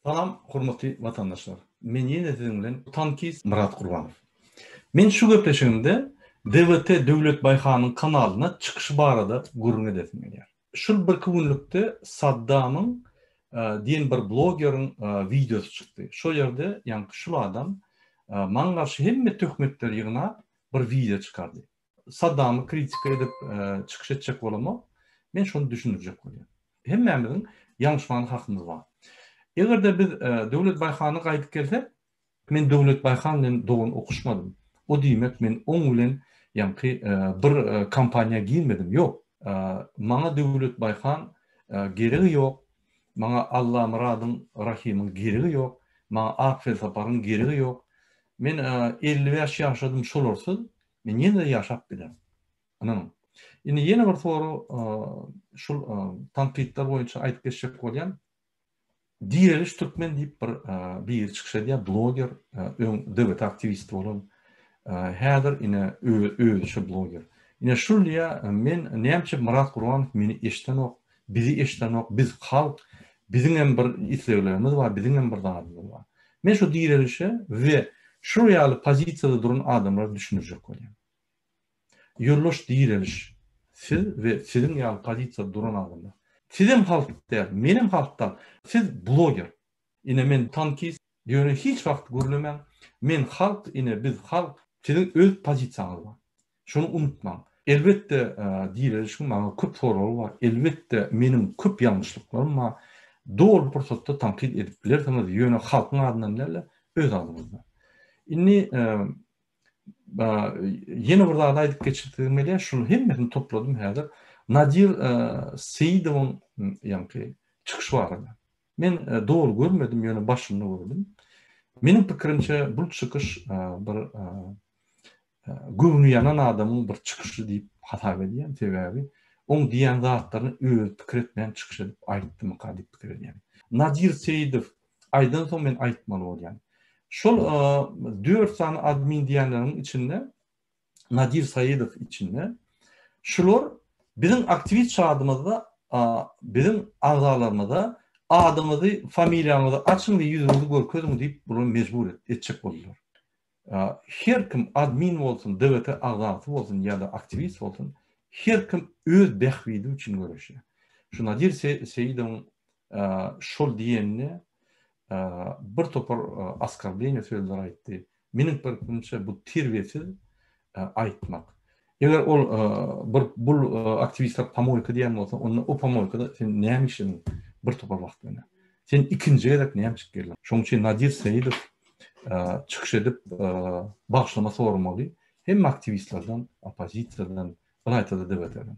Salam hormatly watandaşlar. Men ýene siziň bilen tankist Myrat Gurbanow. Men şu gepleşigimde DWT Döwlet Baýhanyň kanalyna çykyşy barada gürrüň edesim gelýär. Şul birki günlükde Saddamyň diýen bir blogeriň wideosy çykdy. Şo ýerde ýaňky şul adam maňa garşy hemme töhmetleri ýygnap bir wideo çykardy. Saddamy kritika edip çykyş etjek bolama, men şony düşündirjek bolýan. Hemmämiziň ýalňyşmagana hakymyz bar. Eger-de biz Döwlet Baýhana gaýdyp gelsek, men Döwlet Baýhan bilen dogan okuşmadym. O diýmek, men oň bilen ýaňky bir kompaniýa girmedim. Ýok. Maňa Döwlet Baýhan geregi ýok. Maňa Allamyradyň, Rahymyň geregi ýok. Maňa Ak Felsaparyň geregi ýok. Men 55 ýaşadym şolarsyz. Men ýene-de ýaşap bilerin. Ynanyň. Indi ýene bir soru şul tankytlar boýunça aýdyp geçjek bolýan. Direliş türkmen diýip bir biri çykyş edýär, bloger, öň DBT aktiwisti bolan, häzir ine özi şu bloger. Ine şul diýýär, men näme üçin Myrat Gurbanow meni eşidenok, Bizi eşidenok, biz halk, biziňem bir isleglerimiz bar, biziňem bir zadymyz bar. Men şu direlişe we şu ýaly pozisiýada duran adamlara düşündirjek bolýan. Ýoldaş direliş, siz we siziň ýaly pozisiýada duran adamlar. Sizem halk däl, menem halk dal. Siz bloger. Ine men tankist, Ýöne hiç wagt gürlemäň, men halk ine biz halk. Siziň öz pozisiýaňyz bar. Şony unutmaň. Elbetde direlişiň maňa köp soragy bar, elbetde meniň köp ýalňyşlyklarym bar. Doly pursatda tankyt edip bilersiňiz, ýöne halkyň adyndan däl-de öz adyňyzdan. Indi ýene bir zady aýdyp geçisigim gelýär, şuny hemmesini topladym häzir. Nadir Seidowyň ýaňky çykyşy barada. Men dogry görmedim, ýöne başynda gördüm. Meniň pikirimçe bu çykyş bir göwni ýanan adamyň bir çykyşy diýip hasap edýän. Sebäbi oň diýen zatlaryny özi pikir etmän çykyş edip aýtdymyka diýip pikir edýän. Nadir Seýidow aýdan soň men aýtmaly bolýan. Şol 4 sany admin diýenleriň içinde Nadir Saýidow içinde şular biziň aktiwist çadymyzda biziň agzalarymyza adyňyzy, familiýaňyzy açyň we ýüzüňizi görkeziň diýip bular mejbur etjek boldular. Her kim admin bolsun, DWT agzasy bolsun ýa-da aktiwist bolsun, her kim öz bähbidi üçin göreşýär. Şu Nadir Seýidowyň şol diýenine bir topar askarleniýe sözler aýtdy. Meniň pikrimçe bu terbiyesiz aytmak. Eger ol bir bul aktivistler pamoyka diyen bolsa, onda o pamoykada sen näme işledin bir topar wagt mene. Sen ikinci gezek näme çık geldin. Şoň üçin Nadir Seyidov çykyş edip bagşlama sormaly. Hem aktivistlerden, opozisiyadan, bir aytada da beterin.